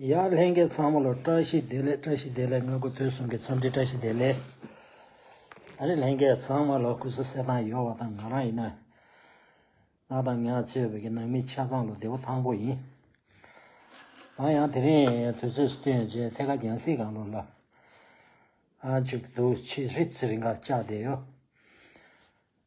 ཡར་ལྷན་རྒྱས་ཚང་མ་ལ་བཀྲ་ཤིས་བདེ་ལེགས་བཀྲ་ཤིས་བདེ་ལེགས་དངོས་པོ་དོན་གསུམ་གྱི་འཚམས་འདྲི་བཀྲ་ཤིས་བདེ་ལེགས་ཨ་རི་ལྷན་རྒྱས་ཚང་མ་ལ་སྐུ་གཟུགས་གསལ་ཐང་ཡོད་བ་དང་ང་རང་ཡིན་ན་ང་དང་ངའ་གཙོས་བོད་ཀྱི་ནང་མི་ཆ་ཚང་ལ་བདེ་བོ་ཐང་པོ་ཡིན་ང་ཡང་དེ་རིང་དུས་ཚོད་སུ་ཐོན་རྗེས་ཐད་ཀ་རྒྱང་སྲིད་གང་ལོར་ལ་ཨ་འཇུག་གི་འདུག་ཕྱིས་ཧྲིབ་ཚིར་འགའ་བཅག་བསྡད་ཡོད།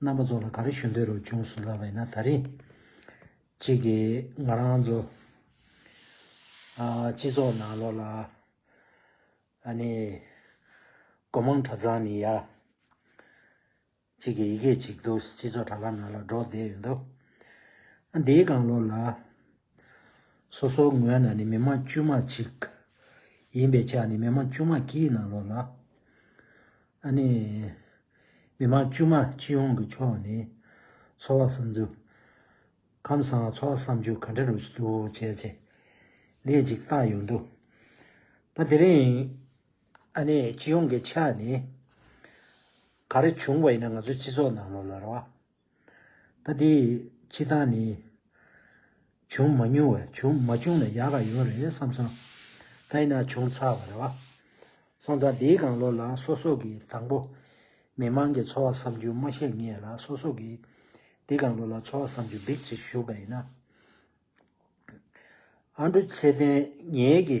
རྣམ་པ་ཚོ་ལ་ག་རེ་ཞུ་འདོད་རུ་བྱུང་སོང་ལབ་པ་ཡིན་ན་ད་རིང་གཅིག་གི་ང་རང་ཚོ་སྤྱི་ཚོགས་ནང་ལོག་ལ་ཨ་ནི་སྒོ་མང་གྲྭ་ཚང་ནི་ཡ་གཅིག་གི་ཡི་གེ་གཅིག་འདུག་སྤྱི་ཚོགས་དྲྭ་ལམ་ནང་ལ་སྒྲོག་བསྡད་ཡོད་འདུག་ཨ་འདིའི་སྒང་ལོག་ལ། སོ་སོའི་ངོས་ནས་ནི་མི་མང་དཀྱུས་མ་གཅིག། ཡིན་པའི་ཆ་ནི་མི་མང་དཀྱུས་མ་གྱིས་ནང་ལོགས་ལ། ཨ་ནི། མི་མང་དཀྱུས་མ་སྤྱི་ཡོངས་ཀྱི་ཕྱོགས་ནས། འཚོ་བ་བསམ་ཚུལ། ཁམས་བཟང་འཚོ་བ་བསམ་རྒྱུ་ག་འདྲ་རུ་འདུག་བྱས་ཚེ། ལས་གཅིག་བཏགས་ཡོད་འདུག་ད་དེ་རིང། ཨ་ནི་སྤྱི་ཡོངས་ཀྱི་ཆ་ནས། ག་རེ་བྱུང་བ་ཡིན་ན་ང་ཚོའི་སྤྱི་ཚོགས་ནང་ལོགས་ལ་ར་བ། ད་དེའི་ཕྱི་ཐག་ནི། བྱུང་མ་མྱོང་བས་བྱུང་མ་བྱུང་ལ་ཡག་ག་ཡོད་རེད་བསམ་སོང། དེས་ན་བྱུང་ཚར་བ་རེད་བ། སོང་ཙང་འདིའི་གང་ལོ་ལ་སོ་སོ་གི་དང་པོ། མི་མང་གི་འཚོ་བ་བསམ་རྒྱུ་མ་ཤེས་ངེས་ལ་སོ་སོ་གི། འདི་གང་ལོ་ལ་འཚོ་བ་བསམ་རྒྱུ་འབིགས་བྱེད་ཞུགས་པ་ཡིན་ན། ཨ་འབྲུ་ཚེ་བརྟན་ངེད་ཀྱི།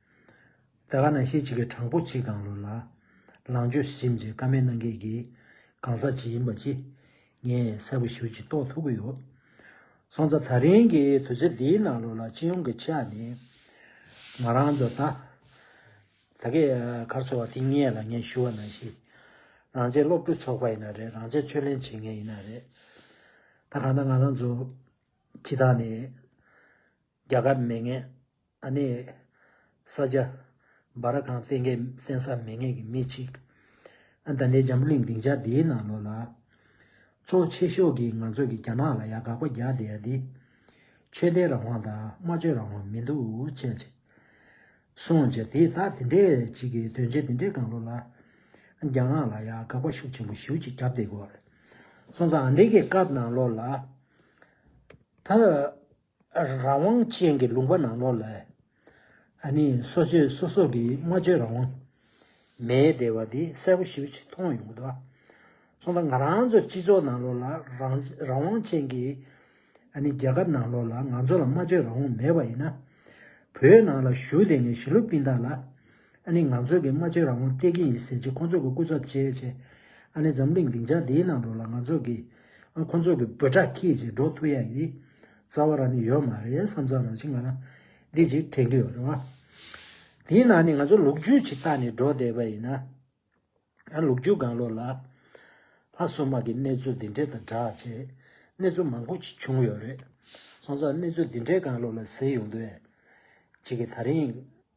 ཟླ་བ་ན་ཤེལ་གཅིག་གི་དྲང་པོ་གཅིག་གང་ལོ་ལ། ལང་སྤྱོད་གཞིབས་མཆན་ཀ་མེད་གནང་མཁན་གྱི་གང་ཟག་ཅིག་ཡིན་པ་གཅིག་ངས་གསལ་པོ་ཞུ་ཅིག་རྟོགས་ཐུབ་ཀྱི་ཡོད། སོང་ཙ་ད་རིང་གི་དུས་ཚོད་འདིའི་ནང་ལོ་ལ་སྤྱི་ཡོངས་ཀྱི་ཆ་ནས་ང་རང་ཚོ་ད་ད་གའི་གར་འཚོ་བ་དེ་སྙེད་ལ་ངས་ཞུ་བ་ནང་བཞིན། རང་བྱས་སློབ་ཕྲུག་ཚོགས་པ་ཡིན་ན་རེད་རང་བྱས་ཆོས་ལེན་བྱེད་མཁན་ཡིན་ན་རེད། ད་གང་ལྟར་ང་རང་ཚོ་སྤྱི་དང་ནས། རྒྱ་གར་མེད་ངེས། ཨ་ནི། ས་སྐྱ། སྦ་ར་ཁང་བསྟན་མཁན་བསྟན་ས་མེད་ངེས་ཀྱི་མི་གཅིག། ཨ་ད་ལའི་འཇམ་པོ་གླིང་སྡིངས་ཆ་འདིའི་ནང་ལོགས་ལ། ཚོགས་ཆེ་ཤོག་གིས་ང་ཚོ་གི་རྒྱ་ནག་ལ་ཡ་དགག་པ་རྒྱག་བསྡད་ཡ་འདི། ཆོས་དད་རང་དབང་དང་སྨྲ་བརྗོད་རང་དབང་མི་འདུག་བྱས་ཅི། སོང་ཅི་དེ་ད་དེ་འདྲས་གཅིག་གི་དོན་ཆེན་དེ་འདྲས་གང་ལོགས་ལ། རྒྱ་ནག་ལ་ཡ་དགག་པ་ཤུགས་ཆེན་པོ་ཞུ་ཅིག་རྒྱབ་བསྡད་དགོས་རེད། སོང་ཙང་ཨ་འདི་གི་སྐབས་ནང་ལོགས་ལ། ད། རང་དབང་ཅན་གྱི་ལུང་པ་ནང་ལོགས་ལ། སོ་སྤྱོད་སོ་སོ་གི་སྨྲ་བརྗོད་རང་དབང་མེད་བསྡད་པ་དེ་གསལ་པོ་ཞིབ་ཆ་མཐོང་ཡོང་གི་འདུག་གསུང་ད་ང་རང་ཚོ་སྤྱི་ཚོགས་ནང་ལོགས་ལ་རང་དབང་ཅན་གྱི། རྒྱལ་ཁབ་ནང་ལོགས་ལ་ང་ཚོ་ལ་སྨྲ་བརྗོད་རང་དབང་མེད་པ་ཡིན་ན། བོད་ནང་ལ་བཞུགས་བསྡད་མཁན་ཞི་ལུ་པིན་དག་ལ། ཨ་ནི་ང་ཚོས་གིས་སྨྲ་བརྗོད་རང་དབང་སྟེར་གྱི་ཡིན་ཟེར་གྱིས་ཁོ་ཚོ་གི་སྐུ་ཚབ་བྱས་བྱས། ཨ་ནི་འཛམ་གླིང་སྡིངས་ཆ་འདིའི་ནང་འགྲོ་ལ་ང་ཚོས་གིས་ཁོ་ཚོ་གི་འབོད་སྒྲ་ཁྱི་བྱས་འགྲོ་ཐུ་ཡ་ཡིན། རྩ་བ་རང་ནི་ཡོད་མ་རེད་བསམ་ཙང་རང་བཞིན་ང་རང་འདི་ཅིག་དྲན་གྱི་ཡོད་རེད་བ། དེའི་ནང་ནས་ང་ཚོ་ལུག་རྒྱུད་ཅིག་བཏགས་ནས་འགྲོ་བསྡད་པ་ཡིན། ཨ་ལུག་རྒྱུད་སྒང་ལོགས་ལ། ལྷ་བསོད་མ་གིས་གནས་ཚུལ་འདི་འདྲའི་དང་སྦྲགས་བྱས། གནས་ཚུལ་མང་པོ་ཅིག་བྱུང་ཡོད་རེད། སོང་ཙང་གནས་ཚུལ་འདི་འདྲའི་སྒང་ལོགས་ལ་ཟེར་ཡོང་དུས། ཅིག་གིས་ད་རིང།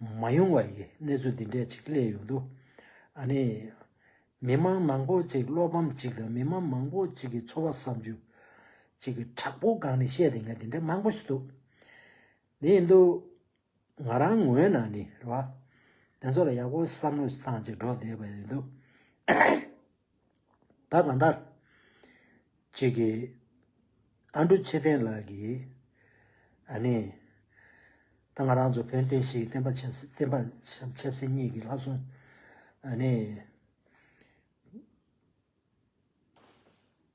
མ་ཡོང་བ་ཡི་གནས་ཚུལ་འདི་འདྲས་ཅིག་གླས་ཡོང་དུས། ཨ་ནི། མི་མང་མང་པོ་ཅིག་བློ་ཕམ་ཅིག་དང་མི་མང་མང་པོ་ཅིག་གི་འཚོ་བ་བསམ་རྒྱུ། ཅིག་གི་དྲག་པོ་སྒང་ནས་བཤད་དེ་ངས་དེ་འདྲས་མང་པོ་ཞིག་འདུག་དེ་ཡིན་དུས། ང་རང་ངོས་ནང་ནས་རེད་བ། དེ་ཚོ་ལ་ཡག་པོ་བསམ་བློ་བཏང་ཅིག་འགྲོ་བསྡད་པ་ཡིན་དུས། ད་གང་ལྟར། ཅིག་གིས། ཨ་འབྲུག་ཆེ་བསྟན་ལགས་ཀྱིས། ཨ་ནི། ད་ང་རང་ཚོ་བོན་བསྟན་ཞིག་གི་བསྟན་པ་ཆབ་སྲིད་གཉིས་ཀྱི་ལྷ་སྲུང། ཨ་ནི།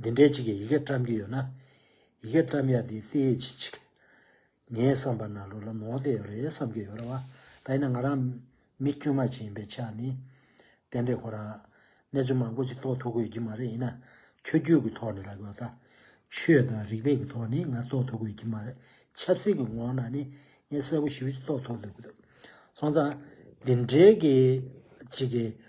འདི་འདྲའི་ཅིག་གིས་ཡི་གེ་བཀྲམ་གྱི་ཡོད་ན། ཡི་གེ་བཀྲམ་ཡ་དེའི་རྩེ་ཡི་ཆེད་ཅིག། ངའི་བསམ་པར་ན་ལོ་ལ་མོག་དེ་ཡོད་རེད་བསམ་གྱི་ཡོད་རེད་བ། ད་ཡིན་ན་ང་རང། མི་དཀྱུས་མ་ཅིག་ཡིན་པའི་ཆ་ནས། དེ་འདྲའི་ཁོ་རང། གནས་ཚུལ་མང་པོ་ཅིག་རྟོགས་ཐུབ་ཀི་ཡོད་ཀྱི་མ་རེད་ཡིན་ན། ཆོས་རྒྱུད་ཀྱི་ཐོག་ནས་ལབ་ཡོད་ད། ཆོས་དང་རིག་པའི་གི་ཐོག་ནས་ང་རྟོགས་ཐུབ་ཀི་ཡོད་ཀྱི་མ་རེད། ཆབ་སྲིད་ཀྱི་ངོགས་ན་ནི། ངས་གསལ་པོ་ཞིབ་ཅིག་རྟོགས་ཐུབ་འདུག་གི་འདུག། སོང་ཙང། འདི་འདྲའི་གི་ཅིག་གིས།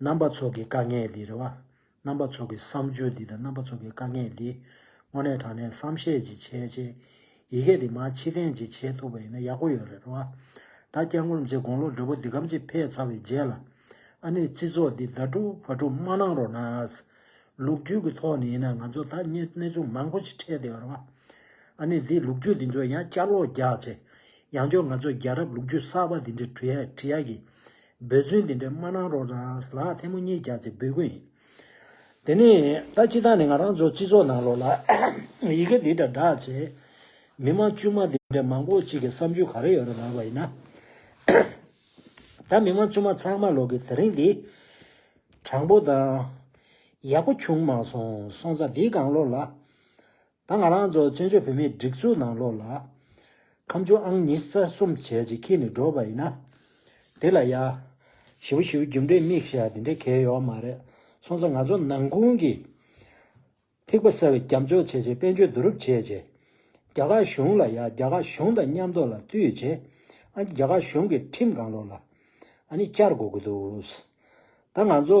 རྣམ་པ་ཚོགས་ཀྱི་དཀའ་ངལ་འདི་རེད་བ། རྣམ་པ་ཚོགས་ཀྱི་བསམ་སྤྱོད་འདི་དང་རྣམ་པ་ཚོགས་ཀྱི་དཀའ་ངལ་འདི། དངོས་གནས་དྲང་གནས་བསམ་ཤེས་ཅིག་བྱས་བྱས། ཡི་གེ་འདི་མ་ཕྱི་གཏན་གྱི་བྱེད་ཐུབ་པ་ཡིན་ན་ཡག་པོ་ཡོད་རེད་བ། ད་སྐྱག་ངུར་མཇེ་དགོང་ལོ་འབྲོ་པོ་འདི་གམ་ཅི་ཕེད་ཚར་བའི་རྗེས་ལ། ཨ་ནེ་རྩི་ཚོགས་འདི་ད་དཀྲུག་ཕ་དཀྲུག་མ་གནང་རོགས་གནང། ལུགས་རྒྱུད་ཀྱི་ཐོག་ནས་ཡིན་ན་ང་ཚོ་ད་གནས་ཚུལ་མང་པོ་ཅིག་འཕྲད་བསྡད་ཡོད་རེད་བ། ཨ་ནེ་འདིས་ལུགས་རྒྱུད་འདི་ཚོ་ཡང་བསྐྱར་ལོག་རྒྱག་ཚེ། ཡང་ཅོ་ང་ཚོ་རྒྱལ་རབས་ལུགས་རྒྱུད་གསར་པ་འདི་འདྲའི་བྲི་ཡ་བྲི་ཡ་གི། འབོད་བརྩོན་འདི་འདྲའི་མ་གནང་རོགས་གནངས་ལགས་ཐལ་མོ་གཉིས་རྒྱག་ཚེ་འབོད་སྐུལ་ཡིན། དེ་ནས་ད་སྤྱི་དང་ནི་ང་རང་ཚོ་སྤྱི་ཚོགས་ནང་ལོགས་ལ་ཡི་གེ་འདི་འདྲ་བསྒྲགས་ཚེ། མི་མང་དཀྱུས་མ་འདི་འདྲའི་མང་པོ་ཅིག་གི་བསམ་ཚུལ་ག་རེ་ཡོད་རེད་ལགས་པ་ཡིན་ན། ད་མི་མང་དཀྱུས་མ་ཚང་མ་ལོགས་ཀྱི་དེ་རིང་འདི། དྲང་པོ་དང། ཡག་པོ་བྱུང་མ་སོང་སོང་ཙང་འདིའི་སྒང་ལོགས་ལ། ད་ང་རང་ཚོ་བཙན་བྱོལ་བོད་མིའི་སྒྲིག་འཛུགས་ནང་ལོགས་ལ། ཁམས་ཆུང་ཨང་ཉིས་རྩ་གསུམ་བྱས་རྗེས་ཁྱེད་ནི་འགྲོ་བ་ཡིན་ན། དེ་ལ་ཡ། ཞི་བོ་ཞི་བོ་རྒྱུ་འབྲས་མིག་ཞགས་དེ་འདྲའི་གལ་ཡོག་མ་རེད་སོང་ཙང་ང་ཚོ་ནང་ཁུང་གི། ཐིགས་པ་གསར་བའི་རྒྱབ་འཇོག་བྱས་རྗེས་དཔལ་འབྱོར་བསྡུ་རུབ་བྱས་རྗེས། རྒྱ་གར་གཞུང་ལ་ཡ་རྒྱ་གར་གཞུང་དང་མཉམ་འདོགས་ལ་བསྟུད་རྗེས། ཨ་རྒྱ་གར་གཞུང་གི་ཁྲིམས་གང་ལོགས་ལ། ཨ་ནི་བསྐྱར་གོ་དགོས་འདུག། ད་ང་ཚོ།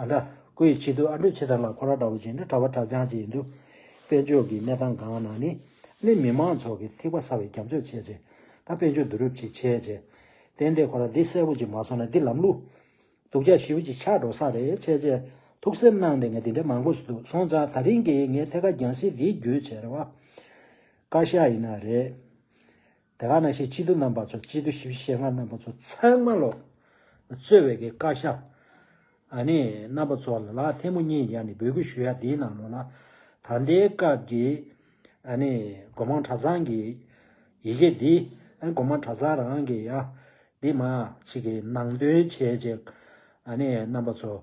ཨ་འདྲ། ཁོ་ཡི་ཆེད་དུ་ཨ་འབྲུག་ཆེ་དར་ལ་ཁོ་ར་འདྲ་བོ་བྱས་ནས་གྲྭ་བ་གྲྭ་ཆང་བྱས་ཡིན་འདུག་དཔལ་འབྱོར་གྱི་གནས་སྟངས་སྒང་ན་ནི། སླད་མི་མང་ཚོགས་ཀྱི་ཐིགས་པ་ཟ་བའི་རྒྱབ་འཇོག་བྱས་ཚེ། ད་དཔལ་འབྱོར་བསྡུ་རུབ་ཅིག་བྱས་རྗེས། དེ་འདྲའི་ཁོ་ར་འདི་གསལ་བོ་ཅིག་མ་སོང་ན་འདི་ལམ་ལུགས། སྡུག་ཅག་ཞིབ་ཅིག་ཆགས་འགྲོ་ས་རེད་བྱས་རྗེས། ཐུགས་སེམས་གནང་སྟེ་ངས་འདི་འདྲའི་མང་པོ་ཟོས་འདུག་སོང་ཙང་ད་རིང་གི་ངའི་ཐད་ཀ་རྒྱང་སྲིད་འདིའི་རྒྱུ་བྱས་རེད་བ། བཀའ་ཤག་ཡིན་ན་རེད། དེ་ག་ན་ཤེས་སྤྱི་བསྡུ་རྣམ་པ་ཚོ་སྤྱི་བསྡུ་ཞིབ་བཤེར་སྔ་རྣམ་པ་ཚོ་ཚང་མ་ལོག། རྩོད་བའི་གི་ཀ་ཤ། ཨ་ནི་རྣམ་པ་ཚོ་ལ་ཐལ་མོ་གཉིས་ཡ་ནི་འབོད་སྐུལ་ཞུ་ཡ་དེའི་ནང་ལོག་ལ། ད་ལྟའི་སྐབས་ཀྱི། ཨ་ནི་སྒོ་མང་གྲྭ་ཚང་གི། ཡི་གེ་འདི། སྒོ་མང་གྲྭ་ཚང་རང་གི་ཡ། འདི་མ། ཅིག་གི་ནང་དོན་བྱས་རྗེས། ཨ་ནི་རྣམ་པ་ཚོ།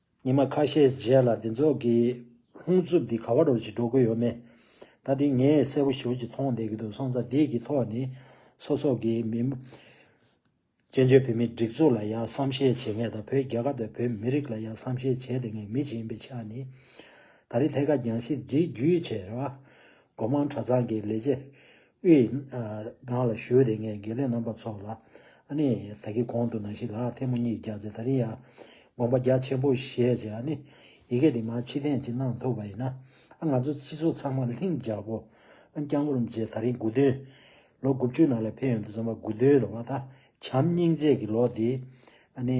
ཉི་མ་ཁ་ཤས་རྗེས་ལ་འདི་ཚོགས་ཀྱི་ལྷུང་རྩུབ་འདི་ག་བ་འགྲོ་ཅི་འགྲོ་གི་ཡོད་མེད། ད་དེ་ངས་གསལ་པོ་ཞིབ་ཅིག་མཐོང་བསྡད་ཀྱི་འདུག་སོང་ཙང་དེ་ཀྱི་ཐོག་ནས་སོ་སོ་གི་མི། བཙན་བྱོལ་བོད་མིའི་སྒྲིག་འཛུགས་ལ་ཡང་བསམ་ཤེས་བྱེད་ངེས་དང་བོད་རྒྱལ་ཁབ་དང་བོད་མི་རིགས་ལ་ཡང་བསམ་ཤེས་བྱེད་དེ་ངེས་མི་ཅིག་ཡིན་པའི་ཆ་ནས། ད་རེས་ཐད་ཀར་རྒྱང་བཞིན་འདི་བརྒྱུད་ཆེ་ར་བ། སྒོ་མང་གྲྭ་ཚང་གི་ལས་བྱེད་དབུས། ནང་ལ་ཞུས་ཏེ་ངས་དགེ་ལས་རྣམ་པ་ཚོ་ལ། ཨ་ནི། ད་གི་གོང་དུ་ན་ཞིག་ལ་ཐེངས་མོ་གཉིས་རྒྱག་ཚེ་ད་རིང་ཡང། དགོངས་པ་རྒྱ་ཆེན་པོ་བཞེས་རྗེས་ཨ་ནི། ཡི་གེ་འདི་མ་ཕྱི་ཐེངས་གཅིག་གནང་ཐུབ་པ་ཡིན་ན། ཨ་ང་ཚོ་སྤྱི་ཚོགས་ཚང་མར་ལྷིང་རྒྱག་གོ། ཨ་སྐྱག་མོ་རུམ་རྗེས་ད་རིང་དགུ་བདུན། ལོ་དགུ་བཅུའི་ནང་ལས་ཕན་ཡོང་དུ་བརྩམས་པ་དགུ་བདུན་རེད་བ་ད། བྱམས་སྙིང་རྗེ་གི་ལོ་འདིའི། ཨ་ནི།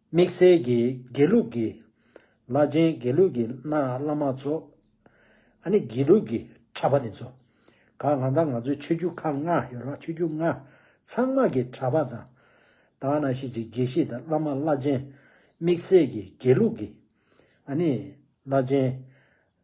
དམིགས་བསལ་གྱི་དགེ་ལུགས་ཀྱི་བླ་ཆེན་དགེ་ལུགས་ཀྱི་གནའ་བླ་མ་ཚོ། ཨ་ནི་དགེ་ལུགས་ཀྱི་གྲྭ་པ་དེ་ཚོ། ག་ང་ད་ང་ཚོའི་ཆོས་རྒྱུད་ཁག་ལྔ་ཡོད་རོགས་ཆོས་རྒྱུད་ལྔ་ཚང་མ་གི་གྲྭ་པ་དང། ད་ང་ན་ཤེས་ཀྱི་དགེ་བཤེས་དང་བླ་མ་བླ་ཆེན། དམིགས་བསལ་གྱི་དགེ་ལུགས་ཀྱི་ཨ་ནི་བླ་ཆེན།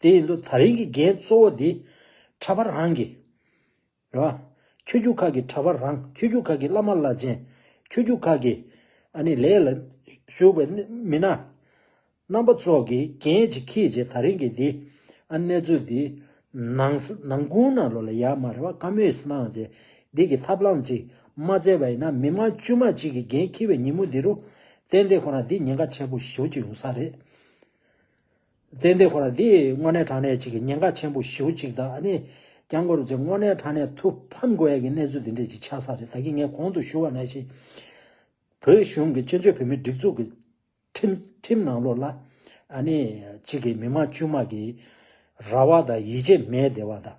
དེ་ཡིན་དུ་ད་རིང་གི་འགན་གཙོ་བོ་དེ། གྲྭ་པ་རང་གི། རེད་བ། ཆོས་རྒྱུད་ཁག་གི་གྲྭ་པ་རང་ཆོས་རྒྱུད་ཁག་གི་བླ་མ་བླ་ཆེན། ཆོས་རྒྱུད་ཁག་གི། ཨ་ནི་ལས་ལ། ཞུགས་པའི། མི་སྣ། རྣམ་པ་ཚོགས་ཀྱི་འགན་ཅིག་ཁྱེད་ཀྱིས་ད་རིང་གི་འདི། ཨ་གནས་ཚུལ་འདི། ནང། ནང་ཁུང་ན་ལོ་ལ་ཡ་མ་རེ་བ་བཀའ་མོས་སུ་གནང་བྱས། འདི་གི་ཐབས་ལམ་ཅིག། མ་བཙལ་བ་ཡིན་ན་མི་དམངས་དཀྱུས་མ་གཅིག་གི་འགན་འཁྱེར་བའི་ཉིན་མོ་འདི་རུ། ཏན་ཏན་ཁོ་རང་འདི་ཉེན་ཁ་ཆེན་པོ་ཞུགས་ཀྱི་ཡོང་ས་རེད། ཏན་ཏན་ཁོ་རང་འདིས་དངོས་གནས་དྲང་གནས་ཅིག་གི་ཉེན་ཁ་ཆེན་པོ་ཞེ་བོ་ཅིག་དང་ནི། རྒྱང་སྒོར་རྫིག་དངོས་གནས་དྲང་གནས་ཐུགས་ཕམ་དགོས་ཡས་ཀྱི་གནས་ཚུལ་འདི་འདྲས་ཅིག་ཆགས་ས་རེད་ད་གིན་ངས་གོང་དུ་ཞུ་བ་ནས་བཞིན། བོད་གཞུང་གི་བཙན་བྱོལ་བོད་མིའི་སྒྲིག་འཛུགས་ཀྱི་ཁྲིམས་ནང་ལོགས་ལ། ནི། ཅིག་གི་མི་མང་དཀྱུས་མ་གི། ར་བ་དང་ཡིད་ཆེས་མེད་བདེ་བ་དང།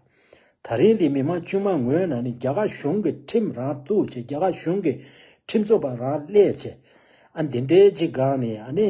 ད་རིང་འདི་མི་མང་དཀྱུས་མ་ངོས་ནས་ནི་རྒྱ་གར་གཞུང་གི་ཁྲིམས་རང་གཏུགས་བྱེད་རྒྱ་གར་གཞུང་གི་ཁྲིམས་རྩོད་པ་རང་སླད་བྱེད། འདི་འདྲས་ཅིག་གང་ནི་ནི།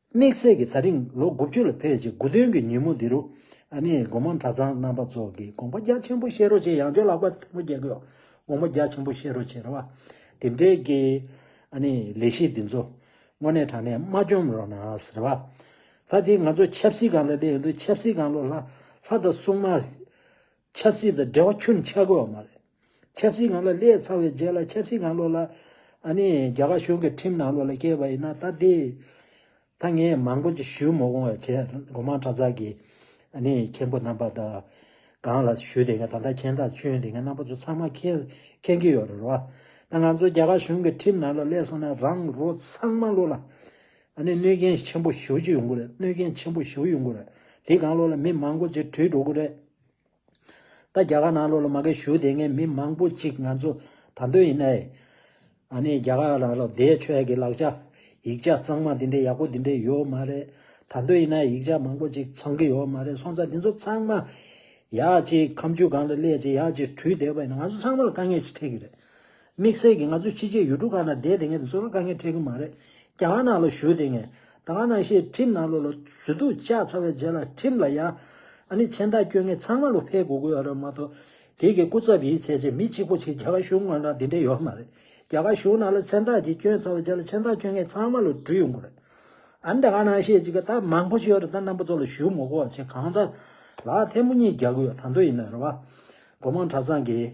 དམིགས་བསལ་གྱིས་ད་རིང་ལོ་དགུ་བཅུ་ལ་ཕེབས་རྗེས་དགུ་སྟོན་གྱི་ཉིན་མོ་འདི་རུ། ཨ་ནེ་སྒོ་མང་གྲྭ་ཚང་རྣམ་པ་ཚོགས་ཀྱིས་དགོངས་པ་རྒྱ་ཆེན་པོ་བཞེས་རོགས་བྱས་ཡང་ཅོ་ལགས་པ་ཐུགས་མ་དགྱེས་གུས། དགོངས་པ་རྒྱ་ཆེན་པོ་བཞེས་རོགས་བྱས་ར་བ། དེ་འབྲེལ་གྱི། ཨ་ནེ་ལས་གཞི་འདི་ཚོ། དངོས་གནས་དྲང་གནས་མ་བཅོམ་རོགས་གནང་ར་བ། ད་དེ་ང་ཚོ་ཆབ་སྲིད་སྒང་ལ་སླེབས་ཡོང་དུས་ཆབ་སྲིད་སྒང་ལོ་ལྷ། ལྷ་དང་སྲུང་མ། ཆབ་སྲིད་དང་འབྲེལ་བ་ཆུ་ནི་ཆགས་དགོས་བ་མ་རེད། ཆབ་སྲིད་ངང་ལ་སླེད་ཚར་བའི་རྗེས་ལ་ཆབ་སྲིད་ངང་ལོག་ལ། ཨ་ནི་རྒྱ་གར་གཞུང་གི་ཁྲིམས་ནང་ལོག་ལ་བསྐྱལ་བ་ཡིན་ན་ད་དེ། ད་ངས་མང་པོ་ཅིག་ཞུས་མོ་གོང་བས་བྱས་སྒོ་མང་གྲྭ་ཚག་གི། ཨ་ནི་མཁན་པོ་རྣམ་པ་དག་གང་ལ་ཞུས་དེ་ངས་ད་ལྟ་མཁན་རྟགས་བཅོན་དེ་ངས་རྣམ་པ་ཚོ་ཚང་མ་མཁྱེན་མཁྱེན་གྱི་ཡོད་རེད་བ། ད་ང་ཚོ་རྒྱ་གར་གཞུང་གི་ཁྲིམས་ནང་ལ་སླེད་སོང་ན་རང་རོ་ཚང་མ་ལོག་ལ། ཨ་ནི་གནོད་སྐྱོན་ཆེན་པོ་ཞུ་རྒྱུ་ཡོང་གི་རེད་གནོད་སྐྱོན་ཆེན་པོ་ཞུ་ཡོང་གི་རེད། དེའི་གང་བློ་ལ་མི་མང་པོ་ཅིག་བྲོས་འགྲོ་གི་རེད། ད་རྒྱ་གར་ནང་བློ་ལ་མ་གས་ཞུ་དེ་ངས་མི་མང་པོ་ཅིག་ང་ཚོ་ད་འདོད་ཡིན་ཨེ། ཨ་ནི་རྒྱ་གར་ལ་ལོ་ཟླའི་ཆོས་ཀྱི་ལག་ཆ། ཡིག་ཆ་གཙང་མ་དེ་འདྲའི་ཡག་པོ་དེ་འདྲའི་ཡོད་མ་རེད། ད་འདོད་ཡིན་ཨེ་ཡིག་ཆ་མང་པོ་ཅིག་ཚང་གི་ཡོད་མ་རེད་སོང་ཙང་དེ་ཚོ་ཚང་མ། ཡག་ཅིག་ཁམ་ཆུ་སྒང་ལ་སླེབས་ཅིག་ཡག་ཅིག་བྲོས་བསྡད་པ་ཡིན་ན་ང་ཚོ་ཚང་མ་ལ་དཀའ་ངལ་ཞིག་འཕྲད་གི་རེད། དམིགས་བསལ་གྱིས་ང་ཚོས་ཕྱི་རྒྱལ་ཡུལ་གྲུ་ཁག་ནང་བསྡད་དེ་ངལ་དུ་སོང་ན་དཀའ་ངལ་འཕྲད་ཀྱི་མ་རེད། རྒྱ་གར་ནང་ལ་བཞུགས་དེ་ངལ་ད་ག་ནང་ཤེས་ཁྲིམས་ནང་ལོ་ལ་ཟུར་དུ་བཅག་ཚར་བའི་རྗེས་ལ་ཁྲིམས་ལ་ཡ། ཨ་ནི་མཚན་རྟགས་བསྐྱོན་མཁན་ཚང་མ་ལོ་ཕེབས་དགོས་དགོས་ར་མ་གཏོགས། དེ་གི་སྐུ་ཚབ་ཡིན་ཟེར་ཆེད་མི་གཅིག་པོ་ཆིག་རྒྱ་གར་གཞུང་ངོས་ན་དེ་འདྲ་ཡོད་མ་རེད། རྒྱ་གར་གཞུང་ནང་ལ་མཚན་རྟགས་གཅིག་བསྐྱོན་ཚར་བའི་རྗེས་ལ་མཚན་རྟགས་བསྐྱོན་མཁན་ཚང་མ་ལོ་དྲུག་ཡོང་དགོས་རེད། ཨ་ནི་ད་ག་ནང་ཤེས་ཅིག་ག་ད་མང་པོ་ཞིག་ཡོད་རེད་ད་རྣམ་པ་ཚོ་ལ་བཞུགས་མོ་གོ་བ་ཆེ་གང་ད་ལགས་ཐལ་མོ་གཉིས་རྒྱག་གི་ཡོད་ད་མདོ་ཡིན་ན་ར་བ། སྒོ་མང་གྲྭ་ཚང་གིས།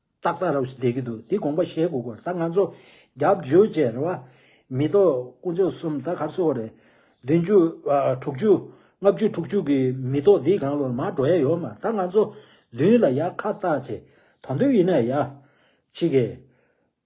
ཏག་ཏག་རབ་ཞི་བསྡད་ཀྱི་འདུག་དེ་དགོངས་པ་བཞེས་དགོས་སྐོར་ད་ང་ཚོ་རྒྱབ་བརྗོད་བཅས་རེད་བ། མི་གཏོགས་དཀོན་མཆོག་གསུམ་ད་གར་གསོལ་བ་རེད། བདུན་ཅུ། དྲུག་ཅུ། ལྔ་བཅུ་དྲུག་ཅུ་གི་མི་གཏོགས་འདིས་གང་བློར་མ་འགྲོ་ཡ་ཡོད་མ་ད་ང་ཚོ་བདུན་ལ་ཡ་ཁ་བཏགས་བྱེད་ད་འདོད་ཡིན་ན་ཡ། ཕྱི་རྒྱལ།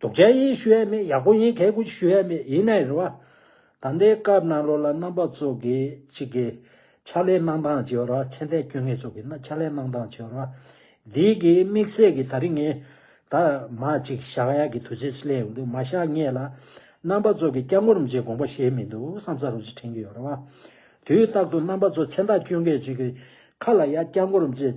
དུག་ཅན་ཡིན་ཞུ་ཡས་མེད་ཡག་པོ་ཡིན་གལ་གུ་ཞུ་ཡས་མེད་ཡིན་ནའི་རེད་བ། ད་ལྟའི་སྐབས་ནང་ལོག་ལ་རྣམ་པ་གཙོ་གི་གཅིག་གི། ཕྱག་ལས་གནང་སྟངས་བྱེད་བར་བ་ཆེན་ཐད་སྐྱོན་ངེས་གཙོ་གི་ན་ཕྱག་ལས་གནང་སྟངས་བྱེད་བར་བ། འདིའི་གི་དམིགས་བསལ་གི་ད་རིང་ངས་ད་མ་གཅིག་བཞག་ཡག་གི་དུས་ཚོད་སི་ལས་ཡོང་དུས་མ་བཞག་ངེས་ལ། རྣམ་པ་གཙོ་གི་སྐྱབས་མགོ་རུམ་བྱེད་དགོངས་པ་བཞེས་མི་འདུག་བསམ་ས་རུ་ཅི་དྲན་གི་ཡོད་རེད་བ། དུས་རྟག་ཏུ་རྣམ་པ་གཙོ་ཆེན་ད་སྐྱོན་ངེས་གཅིག་གི་ཁ་ལ་ཡ་སྐྱབས་མགོ་རུམ་བྱེད།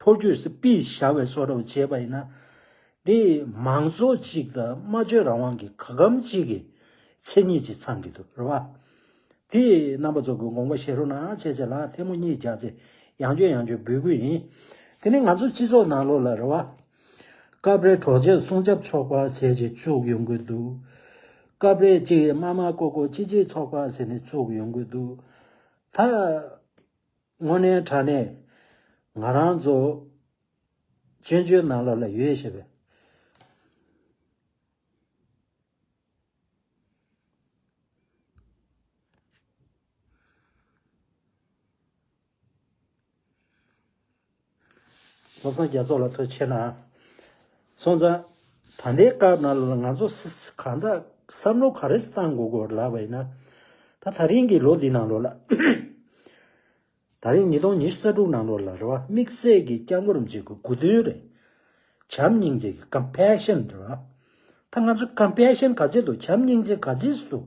ཕོ་རྒྱུད་སུ་སྤིས་བྱ་བའི་སོ་རབ་བྱས་པ་ཡིན་ན། དེ་མང་གཙོ་གཅིག་དང་སྨྲ་བརྗོད་རང་དབང་གི་ག་གམ་གཅིག་གི་མཚན་ཉིད་ཅིག་ཚང་གི་འདུག་རེད་བ། དེ་རྣམ་པ་ཚོ་གི་དགོངས་པ་བཞེས་རོགས་གནང་ཆེ་ཆེ་ལགས་ཐལ་མོ་གཉིས་རྒྱག་ཚེ་ཡང་བཅོས་ཡང་བཅོས་འབུལ་དགོས་ཡིན། དེ་ནི་ང་ཚོ་སྤྱི་ཚོགས་ནང་ལོགས་ལ་རེད་བ། སྐབས་རེ་གྲོགས་མཆེད་སྲུང་སྐྱབས་ཚོགས་པ་ཟེར་ཅིག་བཙུགས་ཡོང་གི་འདུག། སྐབས་རེ་གཅིག་དམའ་དམའ་ཀོ་ཀོ་གཅིག་གཅིག་ཚོགས་པ་ཟེར་ནས་བཙུགས་ཡོང་གི་འདུག་ད། དངོས་གནས་དྲ་གནས་ང་རང་ཚོ་བཙན་བྱོལ་ནང་ལ་ལ་ཡོད་ཞེས་པའི་བློ་བཟང་རྒྱ་མཚོ་ལ་ཐུགས་ཆེ་གནང། སོང་ཙང། ད་ལྟའི་སྐབས་ནང་ལ་ང་ཚོ་གང་དག་བསམ་བློ་ག་རེ་བཏང་དགོས་དགོས་ལབ་པ་ཡིན་ན། ད་ད་རིང་གི་ལོ་འདི་ནང་ལོ་ལ། ད་རིང་ཉིས་སྟོང་ཉི་ཤུ་རྩ་དྲུག་ནང་ལོ་ལ་རེ་བ་དམིགས་བསལ་གྱི་སྐྱབས་མགོ་རུ་འཇིགས་དགོས་དགོས་དོན་རེད། བྱམས་སྙིང་རྗེ་གི Compassion རེད་བ། ད་ང་ཚོ Compassion ག་ཚད་དུ་བྱམས་སྙིང་རྗེ་ག་ཚད་སུ་ཐུག།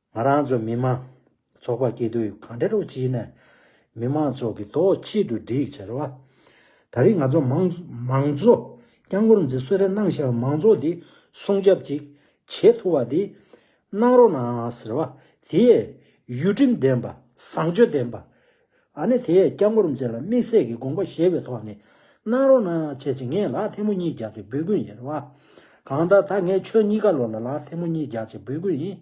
ང་རང་ཚོ་མི་དམངས་ཚོགས་པ་སྐྱིད་སྡུག་གང་འདྲ་རུ་བྱས་ནས་མི་དམངས་ཚོགས་ཀྱི་ཐོག་ཆེད་དུ་སྒྲིག་བྱས་ར་བ། ད་རིང་ང་ཚོ་མང་གཙོ་བསྐྱངས་སྐོར་འཛི་གསོལ་རེ་གནང་ཞག་མང་གཙོ་འདི་སྲུང་སྐྱབས་ཅིག་བྱེད་ཐུབ་བ་དེ་གནང་རོགས་གནང་ཟེར་བ་དེ་ཡུལ་ཁྲིམས་ལྡན་པ་བཟང་སྤྱོད་ལྡན་པ་ཨ་ནི་དེས་སྐྱབས་མགོན་རིན་ཆེན་ལ་དམིགས་བསལ་གྱི་དགོངས་པ་བཞེས་པའི་ཐོག་ནས། གནང་རོགས་གནང་བྱས་ཅི་ངས་ལག་ཐེལ་མོ་གཉིས་རྒྱག་ཅིག་འབུལ་དགོས་ཡིན་རེད་བ། གང་ལྟར་ད་ངས་ཁྱོད་གཉིས་ཀ་ལོག་ལ་ལག་ཐེལ་མོ་གཉིས་རྒྱག་ཅིག་འབུལ་དགོས་ཡིན།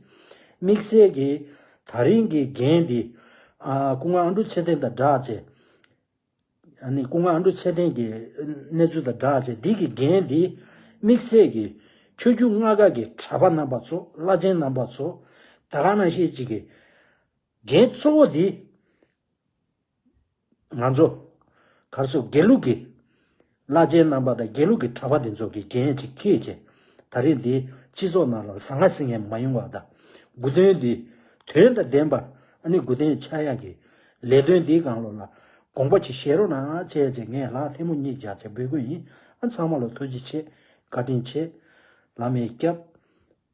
དམིགས་བསལ་གྱིས། ད་རིང་གི་རྒན་འདི། སྐུ་ངོ་ཨ་འབྲུག་ཆེ་བསྟན་དང་སྦྲགས་བྱས། ཨ་ནི་སྐུ་ངོ་ཨ་འབྲུག་ཆེ་བསྟན་གྱི་གནས་ཚུལ་དང་སྦྲགས་བྱས་འདི་གི་རྒན་འདི། དམིགས་བསལ་གྱིས། ཁྱོད་རྒྱུ་མངའ་ཁག་གི་གྲྭ་པ་རྣམ་པ་ཚོ་བླ་ཆེན་རྣམ་པ་ཚོ། ད་ག་ནང་ཤེས་ཅིག་གིས། རྒྱའི་གཙོ་བོ་དེ། ང་ཚོ། གར་སོགས་དགེ་ལུགས་ཀྱི། བླ་ཆེན་རྣམ་པ་དང་དགེ་ལུགས་ཀྱི་གྲྭ་པ་དེ་ཚོ་གི་འགན་ཡིན་ཅིག་ཁེལ་ཅིག། ད་རེས་འདིའི་སྤྱི་ཚོགས་ནང་ལ་ཟ་ང་ཟི་ངེ་མ་ཡོང་བ་དང། དགུ་དོན་འདི། དོན་དང་ལྡན་པ། ཨ་ནི་དགུ་དོན་ཆ་ཡག་གི། ལས་དོན་འདིའི་སྒང་ལོ་ལ། དགོངས་པ་ཅིག་བཞེས་རོགས་གནང་ཨ། བྱས་ཚེ་ངས་ལག་ཐལ་མོ་གཉིས་རྒྱག་ཚེ་འབོད་སྐུལ་ཡིན་ཨ། ཚང་མ་ལ་ཐུགས་རྗེ་ཆེ། བཀའ་དྲིན་ཆེ། ལམ་མེ་སྐྱབས།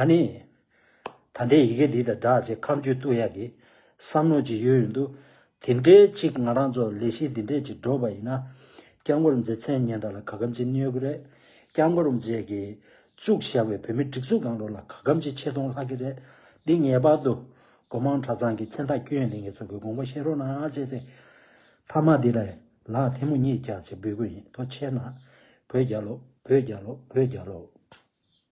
ཨ་ནི། ད་ལྟའི་ཡི་གེ་འདི་དང་འདྲ་ཅེས་ཁམས་སྤྱོད་བཏུལ་ཡག་གི་བསམ་མནོ་ཅིག་ཡོད་ཡོད་འདུག་དེ་འདྲའི་ཅིག་ང་རང་ཚོ་ལས་གཞི་འདི་འདྲས་ཅིག་འགྲོ་བ་ཡིན་ན། སྐྱབས་འགོ་རུ་མཛེས་མཚན་སྙན་གྲགས་ལ་ག་གམ་ཅིག་གནོད་གི་རེད། སྐྱབས་འགོ་རུ་མཛེས་ཀྱིས་བཙུགས་བཞག་པའི་བོད་མི་སྒྲིག་འཛུགས་གང་རུང་ལ་ག་གམ་ཅིག་ཆེ་མཐོང་ལྷག་གི་རེད། འདི་ངེས་པར་དུ། སྒོ་མང་གྲྭ་ཚང་གི་མཚན་རྟགས་བསྐྱོན་ཡོད་འདི་ངེད་ཚོ་གི་དགོངས་པ་བཞིན་རོགས་གནང་ཅེས་ཚེ་ཐར་མ་འདི་ལའི་ལག་ཐལ་མོ་གཉིས་བཀྱགས་ཅེས་འབོད་སྐུལ་ཡིན་ཐོ་ཆེ་ན། བོད་རྒྱལོ། བོད་རྒྱལོ། བོད་རྒྱལོ།